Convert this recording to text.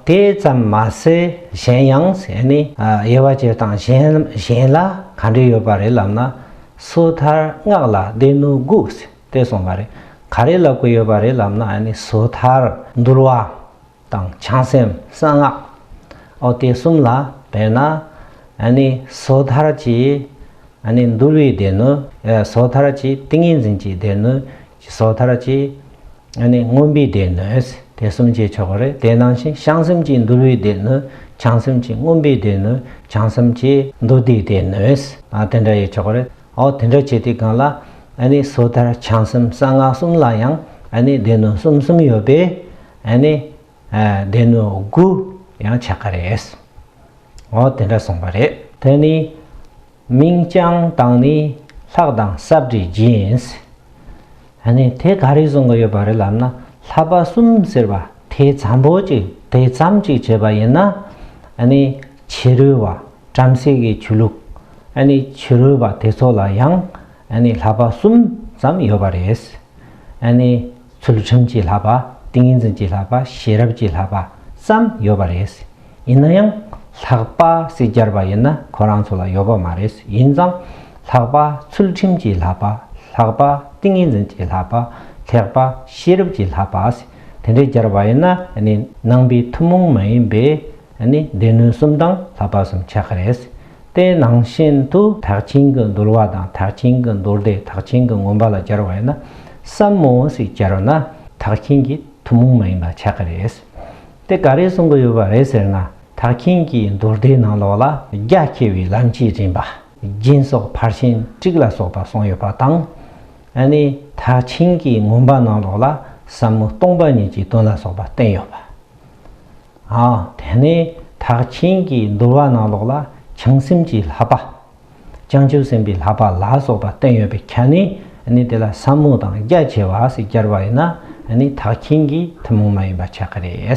དེ་ཙམ་མ་ཟད་གཞན་ཡང་ཟས་ནི་དབྱེ་བ་སྤྱིར་བཏང་གཞན་ལ་ག་འབྲེལ་ཡོད་པ་རེད་ལབ་ན། སོ་ཐར་སྔགས་ལ་སྡེ་སྣོད་དགུག་ལྟེ་གསུངས་པ་རེད། ག་རེ་ལབ་དགོས་ཡོད་པ་རེད་ལབ་ན་སོ་ཐར་འདུལ་བ་དང་བྱང་སེམས་གསང་སྔགས་ཨོ་སྟེ་གསུམ་ལ་བས་ན། སོ་ཐར་གྱི་འདུལ་བའི་སྡེ་སྣོད། སོ་ཐར་གྱི་ཏིང་ངེ་འཛིན་གྱི་སྡེ་སྣོད་སོ་ཐར་གྱིས། ཨ་ནི་རྔོན་པའི་སྡེ་སྣོད། དེ་གསུམ་བྱས་ཆོག་གོ་རེད་དེ་ནང་བཞིན་བྱང་སེམས་ཀྱིས་འདུལ་བའི་སྡེ་སྣོད་བྱང་སེམས་ཀྱིས་རྔོན་པའི་སྡེ་སྣོད་བྱང་སེམས་ཀྱིས་འདུལ་བདེའི་སྡེ་སྣོད་དེ་འདྲ་ཡོད་ཆོག་གོ་རེད་ཨོ་དེ་འདྲ་བྱས་དེའི་སྒང་ལ་ཨ་ནི་སོ་ཐར་བྱང་སེམས་གསང་སྔགས་གསུམ་ལ་ཡང་ཨ་ནི་སྡེ་སྣོད་གསུམ་གསུམ་ཡོད་པས་ཨ་ནི་སྡེ་སྣོད་དགུ་ཡང་ཆགས་ཀ་རེད། འོ་དེ་འདྲ་གསུངས་པ་རེད། དེ་ནི་མིང་རྐྱང་དང་ནི་ལྷག་དང་གསབ་འདྲེས་སྦྱིན། ད་ནི་དེ་ག་རེ་གསུང་གི་ཡོད་པ་རེད་ལབ་ན་ལྷ་པ་གསུམ་ཟེར་བ་དེ་ཙམ་པོ་གཅིག་དེ་ཙམ་གཅིག་བྱས་པ་ཡིན་ན་ད་ནི་ཕྱི་རོལ་བ་བྲམ་ཟེ་གི་ཆོས་ལུགས་ད་ནི་ཕྱི་རོལ་བ་དེ་ཚོ་ལ་ཡང་ཨ་ནི་ལྷག་པ་གསུམ་ཙམ་ཡོད་པ་རེད། ཨ་ནི་ཚུལ་ཁྲིམས་ཀྱི་ལྷག་པ་ཏིང་ངེ་འཛིན་གྱི་ལྷག་པ་ཤེས་རབ་ཀྱི་ལྷག་པ་ཙམ་ཡོད་པ་རེད། ཡིན་ན་ཡང་ལྷག་པ་སྲིད་སྦྱར་བ་ཡིན་ན་ཁོ་རང་ཚོ་ལ་ཡོད་པ་མ་རེད་ཡིན་ཙང་ལྷག་པ་ཚུལ་ཁྲིམས་ཀྱི་ལྷག་པ་ལྷག་པ་ཏིང་ངེ་འཛིན་གྱི་ལྷག་པ་ལྷག་པ་ཤེས་རབ་ཀྱི་ལྷག་པ་དེ་འདྲས་སྦྱར་བ་ཡིན་ན་ཨ་ནི་ནང་པའི་ཐུན་མོང་མ་ཡིན་པའི་ཨ་ནི་སྡེ་སྣོད་གསུམ་དང་ལྷག་པ་གསུམ་ཆགས་ཀྱི་རེད། དེའི་ནང་བཞིན་དུ་དག་ཆེན་གྱི་འདུལ་བ་དང་དག་ཆེན་གྱི་མདོར་བསྡུས་དག་ཆེན་གྱི་ངོམས་པ་ལ་སྦྱར་བ་ཡིན་ན། སམ་མོ་སིས་སྦྱར་བ་ན་དག་ཆེན་གྱི་ཐུན་མོང་མ་ཡིན་པ་ཆགས་ཀྱི་རེད། དེ་ག་རེ་གསུང་གི་ཡོད་པ་རེད་ཟེར་ན་དག་ཆེན་གྱི་མདོར་བསྡུས་ནང་ལོགས་ལ་རྒྱ་ཆེ་བའི་ལམ་གྱིས་རིམ་པ་རྒྱན་སོགས་ཕར་ཕྱིན་དཀྲིགས་ལ་སོགས་པ་གསུངས་ཡོད་པ་དང། ནི་དག་ཆེན་གྱི་ངོམས་པ་ནང་ལོགས་ལ་ཟབ་མོ་སྟོང་པ་ཉིད་ཀྱི་དོན་ལ་སོགས་པ་བསྟན་ཡོད་པ། དེ་ནས་དག་ཆེན་གྱི་འདུལ་བ་ནང་ལོགས་ལ་བྱང་སེམས་ཀྱི་ལྷག་པ། བྱང་ཆུབ་སེམས་དཔའི་ལྷག་པ་ལ་སོགས་པ་བསྟན་ཡོད་པའི་ཁྱད་ནི་ནི་དེ་ལ་ས་མོ་དང་རྒྱ་ཆེ་བ་ཞེས་སྦྱར་བ་ཡིན་ན་ནི་དག་ཆེན་གྱི་ཐུན་མོང་མ་ཡིན་པ་ཆགས་ཀྱི་རེད།